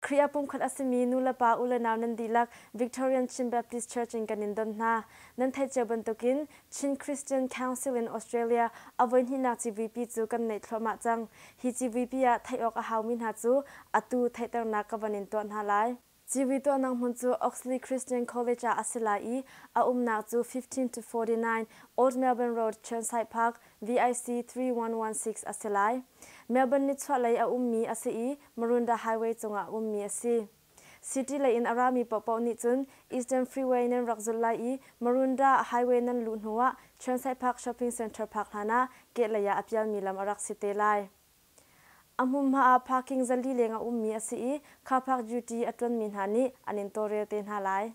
Khrih ah pumkhat a simi nulepa ulenau nan dihlak Victorian Chin Baptist Church in kan in don hna. Nan theih cio bantukin Chin Christian Council in Australia a voihnihnak civuipi cu kan neih thluahmah cang. Hi civuipi ah theih awk a haumi hna cu atu theihternak ka van in tuah hna lai. Civui tuahnak hmun cu Oxley Christian College ah a si lai i a umnak cu fifteen to forty nine Old Melbourne Road, Chirnside Park, VIC three one one six a si lai. Melbourne nichuahlei a ummi a si i Marunda Highway cungah ummi a si. City lei in a rami paohpaoh nih cun Eastern Freeway nan rak zulh lai i Marunda Highway nan luh hnu ah Chernsai Park Shopping Centre park hlan ah kehlei ah a pialmi lam a rak si te lai. A hmunhma ah parking za li leng a ummi a si i car park duty a ṭuanmi hna nih an in tawlrel te hna lai.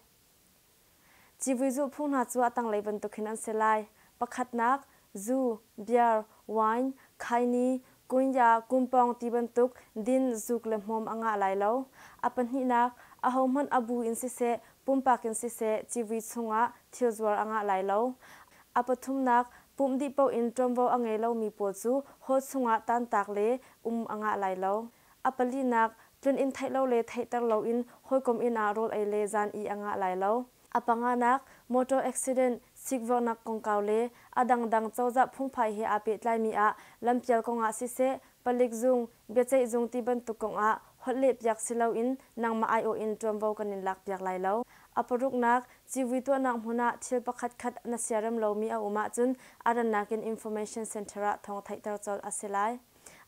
Civui zulhphung hna cu a tanglei bantukin an si lai, pakhatnak, zu, beer, wine, khaini, kunya, kumpawng ti bantuk din, zuk le hmawm a ngah lai lo. A pahnihnak, ahohmanh a bu in siseh, pumpak in siseh civui chungah thilzuar a ngah lai lo. A pathumnak, pumh dih paoh in ṭuanvo a ngei lomi pawl cu haw chungah tantak le um a ngah lai lo. A palinak, tlun inn theih lo le theihter loin hawikom inn ah rawl ei le zan i a ngah lai lo. A panganak, motor accident, sikvorhnak kongkau le a dangdang cozah phungphai he aa pehtlaimi ah lampial kongah siseh, palik zung, biaceih zung ti bantuk kongah holhlehpiak si loin nangmah aiawh in ṭuanvo kan in lakpiak lai lo. A paruknak, civui tuahnak hmun ah thil pakhatkhat na siarem lomi a um ahcun a rannak in information center ah thawng theihter colh a si lai.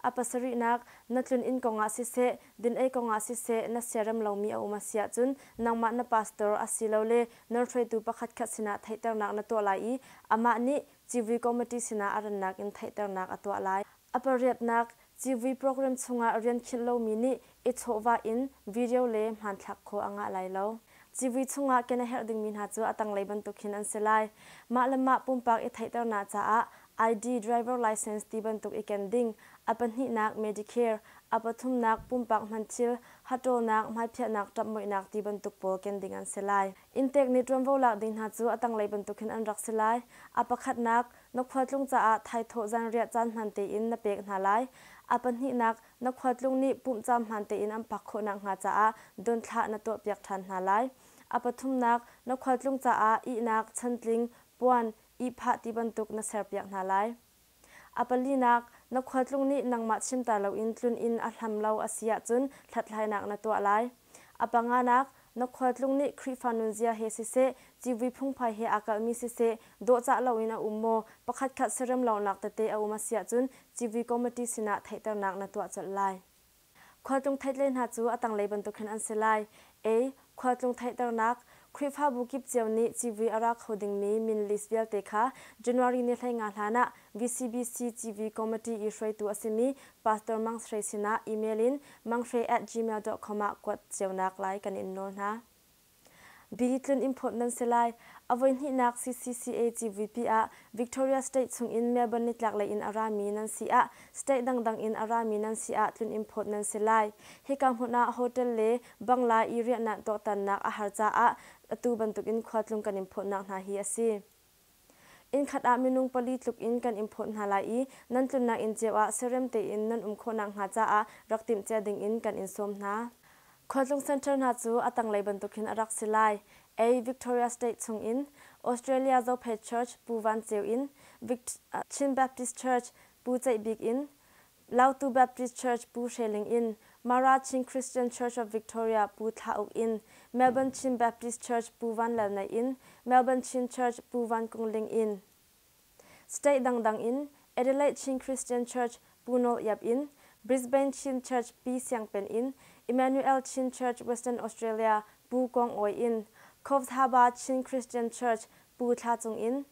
A pasarihnak, na tlun inn kongah siseh, dinei kongah siseh na siarem lomi a um a si ahcun nangmah na pastor asilole nawrhruaitu pakhatkhat sinah theihternak na tuah lai i amah nih civui committee sinah a rannak in theihternak a tuah lai. A pariatnak, civui program chungah rian khinh lomi nih i chawhvah in video le hmanthlak khua a ngah lai lo. Civui chungah ken a herh dingmi hna cu a tanglei bantuk hin an si lai. Mah le mah pumpak i theihternak caah ID, driver license ti bantuk i ken ding, a pahnihnak Medicare, a pathumnak pumpak hmanthil, hahṭawlnak, hmaipiahnak ṭapmuihnak ti bantuk pawl ken ding an si lai. Inntek nih ṭuanvo lak ding hna cu a tanglei bantuk hin an rak si lai. A pakhatnak, na khualtlung caah thaithawh zanriah caan hman tein na pek hna lai. A pahnihnak, na khuatlung nih pumhcaam hmaan tein an phak khawh nakhnga caah donthlah na tuahpiak ṭhan hna lai. A pathumnak, na khualtlung caah ihnak, chantling, puan, ihphah ti bantuk na serpiak hna lai. A palinak, na khualtlung nih nangmah chimter loin tlun in a hlam lo a si ahcun hlathlainak na tuah lai. A panganak, na khualtlung nih Khrihfa nunzia he siseh, civui phungphai he aa kalhmi siseh, dawhcah loin a um maw, pakhatkhat serem lawngnak tete a um a si ahcun civui committee sinah theihternak na tuah colh lai. Khualtlung theihtle hna cu a tanglei bantuk hin an si lai, a. Khualtlung theihternak, Khrihfabu kip cio nih civui a ra kho dingmi min list vialte kha January ni hleinga hlan ah VCBC civui committee i hruaitu a simi Pastor Mang Shwe sinah email in mangshwe at gmail dot com ah kuat cionak lai kan in nawl hna. Bidi tlun import nan si lai. A voihnihnak CCCA CVP ah Victoria State chungin Melbourne nitlaklei in a rami nan si ah state dangdang in a rami nan si ah tlun import nan si lai. Hika hmun ah hotel le bangla i riahnak tuaktannak a har caah atu bantukin khua tlung kan in phawtnak hna hi a si. Innkhat ah minung pali tluk in kan in phawt hna lai i nan tlunnak inn cio ah serem tein nan um khawh nakhnga caah rak timhcia dingin kan in sawm hna. Khualtlung Center hna cu a tanglei bantukin a rak si lai. Ei Victoria State chungin Australia Zophate Church, Pu Van Ceu in Vict Chin Baptist Church, Pu Ceih Bik in Lautu Baptist Church Pu Hre Ling in Mara Chin Christian Church of Victoria Pu Thla Uk in Melbourne Chin Baptist Church Pu Van Lal Naih in Melbourne Chin Church Pu Van Kung Ling in State dangdang in Adelaide Chin Christian Church Pu Nawl Iap in Brisbane Chin Church Pi Siang Pen in Emmanuel Chin Church Western Australia Pu Kong Awi in Cove Thaba Chin Christian Church Pu Thla Cung in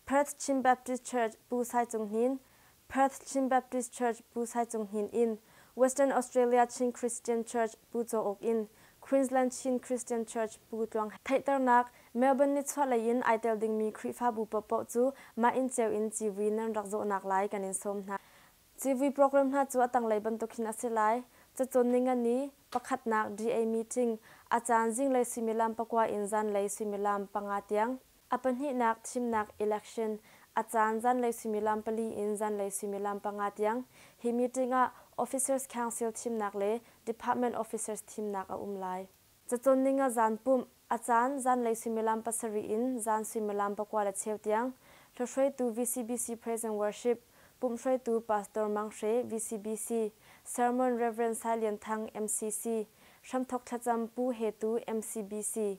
Perth Chin Baptist Church, Pu Sai Cung Hnin, Perth Chin Baptist Church, Pu Sai Cung Hnin in Western Australia Chin Christian Church, Pu Caw Uk in Queensland Chin Christian Church, Pu Tluang He. Theihternak, Melbourne nichuahlei in ai tel dingmi Khrihfabu paohpaoh cu mah inn ceu in civui nan rak zawhnak lai kan in sawm hna. Civui program hna cu a tanglei bantuk hin a si lai, cacawn ningani, pakhatnak DA meeting, a caan zinglei suimilam pakua in zanlei suimilam panga tiang. A pahnihnak thimnak election, a caan zanlei suimilam pali in zanlei suimilam panga tiang, hi meeting ah Officers Council thimnak le Department Officers thimnak a um lai. Cacawnning a zan pumh, a caan zanlei suimilam pasarih in zan suimilam pakua le cheu tiang, hlohruaitu VCBC Praise and Worship, pumhhruaitu Pastor Mang Hre, VCBC, Sermon Rev. Sai Lian Thang, MCC, hramthawk thlacam Pu He Tu, MCBC,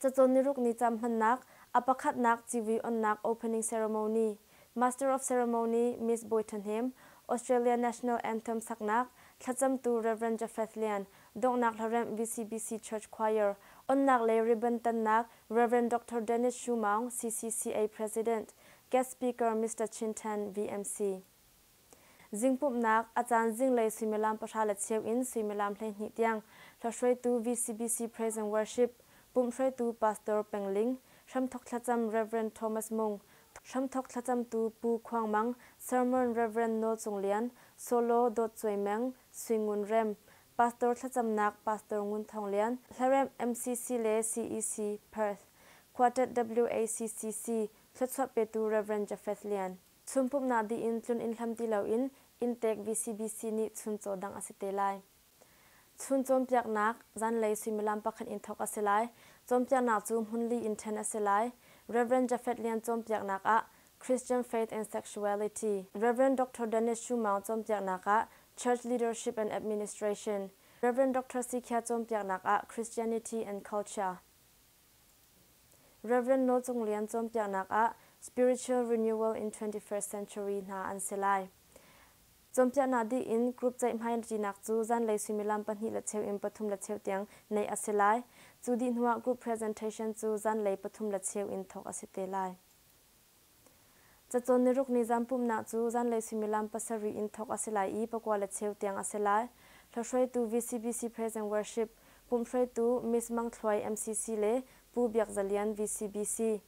Cacawn niruk ni cam hmannak, a pakhatnak civui-onnak opening ceremony, Master of Ceremony Miss Bawi Ṭhahnem, Australia National Anthem saknak, thlacamtu Rev. Japheth Lian, donghnak hlaremh VCBC Church Choir, onnak le ribbon tannak Rev. Doctor Dennis Shu Maung, CCCA President, guest speaker Mister Chin Ṭhan, VMC. Zingpumhnak, a caan zinglei suimilam pahra le cheu in suimilam hleihnih tiang hlahruaitu VCBC Praise and Worship, pumh hruaitu Pastor Peng Ling, hramthawk thlacam Rev. Thomas Mung, hramthawk thlacamtu Pu Khuang Mang, Sermon Rev. Nawl Cung Lian, solo Dawt Cuai Meng, Sui Ngun Rem, Pastor thlacamnak Pastor Ngun Thawng Lian, hlaremh MCC le CEC, Perth, Quartet WACCC, thluachuah petu Rev. Jafeth Lian. Chun pumhnak dih in tlun inn hlam ti loin inntek VCBC nih chun caw dangh a si te lai. Chun cawnpiaknak, zanlei suimilam pakhat in thawk a si lai. Cawnpiaknak cu hmun li in ṭhen a si lai. Rev. Jafet Lian cawnpiaknak ah Christian Faith and Sexuality, Rev. Doctor Dennis Shu Maung cawnpiaknak ah Church Leadership and Administration, Rev. Doctor Si Khia cawnpiaknak ah Christianity and Culture, Rev. Nawl Cung Lian cawnpiaknak ah Spiritual Renewal in 21st Century hna an si lai. Cawnpiaknak dih in group ceihhmai ṭinak cu zanlei suimilam pahnih le cheu in pathum le cheu tiang neih a si lai. Cu dih hnuah group presentation cu zanlei pathum le cheu in thawk a si te lai. Cacawn niruk ni zaanpumnak cu zanlei suimilam pasarih in thawk a si lai i pakua le cheu tiang a si lai. Hlahruaitu VCBC Praise and Worship, pumhhruaitu Miss Mang Thluai MCC le Pu Biak Za Lian VCBC,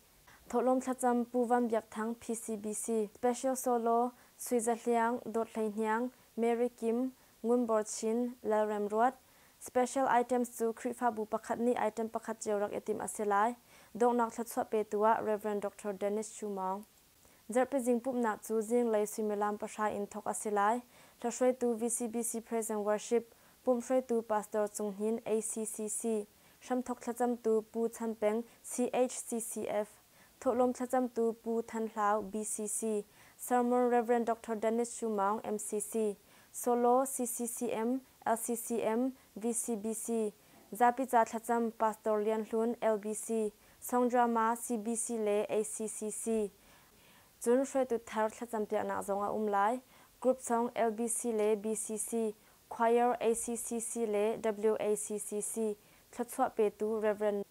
thawhlawm thlacam Pu Van Biak Thang PCBC, Special Solo, Sui Za Hliang, Dawt Hlei Hniang, Mary Kim, Ngun Bor Chin, Lal Rem Ruat, Special items cu Khrihfabu pakhat nih item pakhat cio rak i timh a si lai. Donghnak thluachuah petu ah Rev. Doctor Dennis Chu Maung. Zarhpizing pumhnak cu zinglei suimilam pahra in thawk a si lai. Hlahruaitu VCBC Present Worship, pumhhruaitu Pastor Cung Hnin, ACCC, hramthawk thlacamtu Pu Chan Peng, CHCCF, Thawhlawm thlacamtu Pu Than Hlau, BCC, Sermon Rev. Doctor Dennis Shu Maung, MCC, Solo, CCCM, LCCM, VCBC, Zapi ca thlacam Pastor Lian Hlun, LBC, Songdrama, CBC le ACCC, cun hruaitu thar thlacampiaknak zong a um lai. Group song LBC le BCC, Choir, ACCC le WACCC thluachuah petu Rev.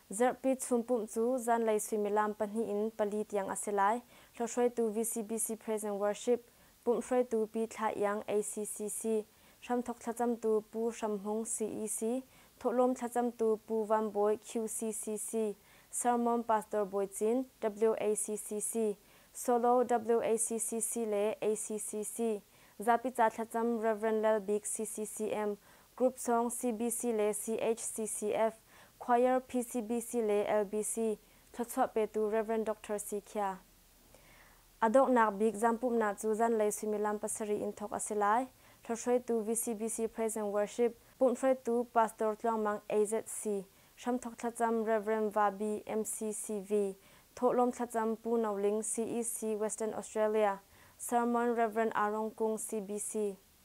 Zarhpi chunpumh cu zanlei suimilam pahnih in pali tiang a si lai. Hlawhhruaitu VCBC Praise and Worship, pumhhruaitu Pi Thla Iang ACCC, hramthawk thlacamtu Pu Hram Hmung CEC, thawhlawm thlacamtu Pu Van Bawi QCCC, sermon Pastor Bawi Cin, WACCC, solo WACCC le ACCC, zapi ca thlacam Rev. Lal Bik CCCM, Group sawng CBC le CHCCF, Choir PCBC le LBC, thluachuah petu Rev. Doctor Si Khia. A donghnak bik zampumnak cu zanlei suimilam pasarih in thawk a si lai. Hlawhhruaitu VCBC Praise and Worship, pumhhruaitu Pastor Tluang Mang AZC, hramthawk thlacam Rev. Vahbi MCCV, thawhlawm thlacam Pu No Ling CEC Western Australia, sermon Rev. Arong Kung CBC.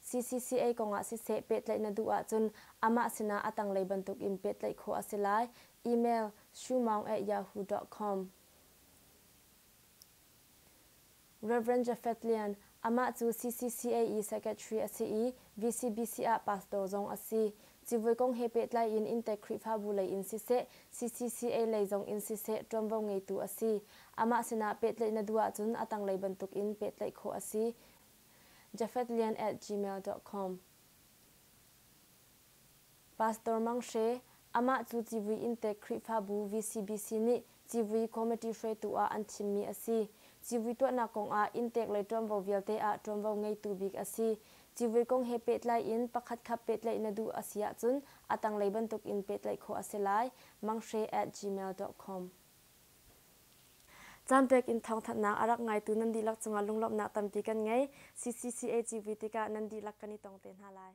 CCCA kongah siseh pehtlaih na duh ahcun amah sinah a tanglei bantuk in pehtlaih khawh a si lai. Email, shoemaung@yahoo dot com Rev. Jafeth Lian, Amah cu CCCA-i Secretary a si i VCBC ah Pastor zong a si. Civui kong he pehtlai in inntek Khrihfabu lei in siseh, CCCA lei zong in siseh ṭuanvo ngeitu a si. Amah sinah pehtlaih na duh ahcun a tanglei bantuk in pehtlaih khawh a si. jafetlian@gmail dot com Pastor Mang Hre, amah cu civui inntek Khrihfabu VCBC nih civui committee hruaitu ah an thimmi a si. Civui tuahnak kong ah inntek le ṭuanvo vialte ah ṭuanvo ngeitu bik a si. Civui kong he pehtlai in pakhatkhat pehtlaih na duh a si ahcun a tanglei bantuk in pehtlaih khawh a si lai. Mang Hre at gmail dot com. Caan pek in thawngthanhnak a rak ngaitu nan dihlak cungah lunglawmhnak tampi kan ngei. CCCAGV tikah nan dihlak kan i tong te hna lai.